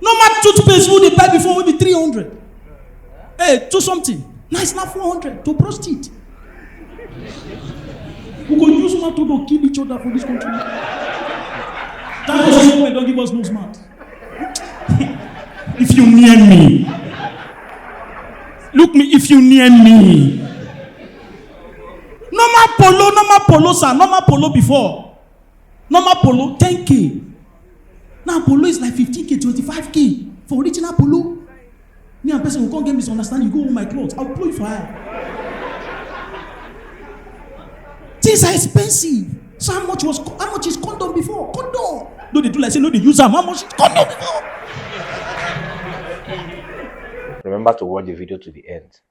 Normal toothpaste wey dey buy before wey be three hundred. Hey, eh, two something. Now it's now four hundred to brush teeth. We go use mouth to kill each other for this country. Thank God say don't give us no smart. if you near me, look me if you near me. Normal polo, normal polo, sir, normal polo before. normal polo ten k now polo is like fifteen k twenty five k for original polo me and person go come get misunderstanding you go hold my cloth i go pull you for eye things are expensive so how much was how much is condom before condom no dey do like say no dey use am how much is condom before. remember to watch the video to the end.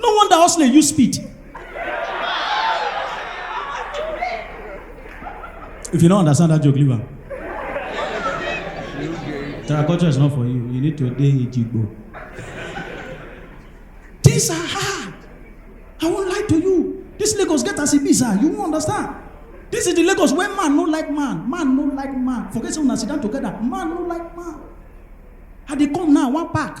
no wonder hustler use speed if you no understand that joke leave am terraculture is not for you you need to dey ejigbo things are hard i won lie to you this lagos get as e be sir you won understand this is the lagos wey man no like man man no like man forget say una sit down together man no like man i dey come now one pack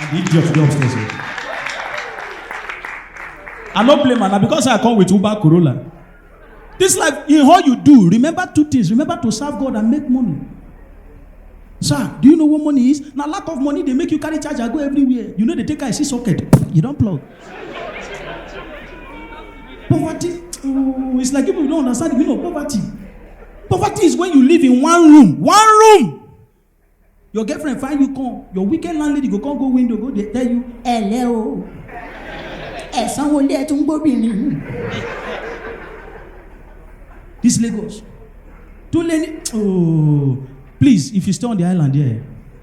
And the idiot dey upstairs. o. I no blame am na because I come with Uber Corolla. This life, in all you do, remember two things. Remember to serve God and make money. Sir, do you know what money is? Na lack of money dey make you carry charger go everywhere. You no dey take eye see socket, you don plug. Poverty, oh, it's like people don't understand the meaning of poverty. Poverty is when you live in one room, one room. Your girlfriend find you come, your weekend landlady go come go window go dey tell you, ẹ̀lẹ́ o, ẹ̀sán wo lé ẹ̀ tún gbóbìnrin. This Lagos, too late, oh, please if you stay on the island there. Yeah,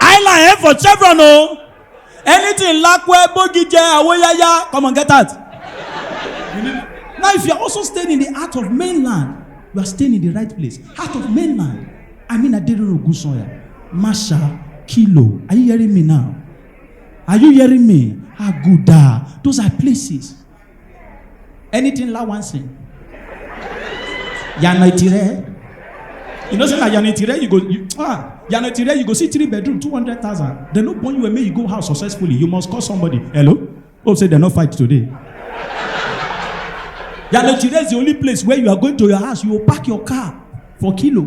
island head for chevron o anything lakwe bogije awoyaya come on get out now if you are also staying in the heart of mainland you are staying in the right place heart of mainland i mean aderero ogunsanya masha kilo are you hearing me now are you hearing me aguda those are places anything la wan sing yana itire you know say na yana itire you go you, ah yana itire you go see three bedroom two hundred thousand dem no born you and make you go house successfully you must call somebody hello hope say dem no fight today yana itire is the only place where you are going to your house you go park your car for kilo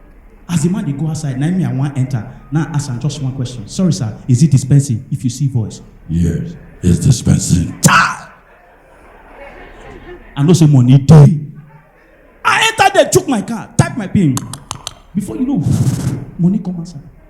As the man dey go outside, na me I wan enter. Now ask am just one question. Sorry sir, is it dispensing? If you see voice. Yes, it's dispensing. Chai! I know say money dey. I enter there, chook my car, type my pin. Before you know, money come outside.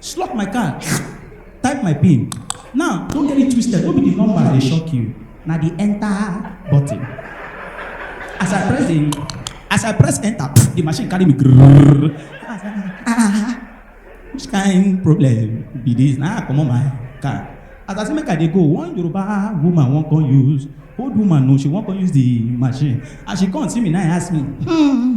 Slot my card, type my pin. Now, don't get it twisted, no be the number dey shock you, na the enter button. As I press the, as I press enter, the machine carry me grrrr. I say, ah, which kind problem be this? Na I comot my card. As I say make I dey go, one Yoruba woman wan come use, old woman no, she wan come use the machine. As she come see me, na I ask me, hmm,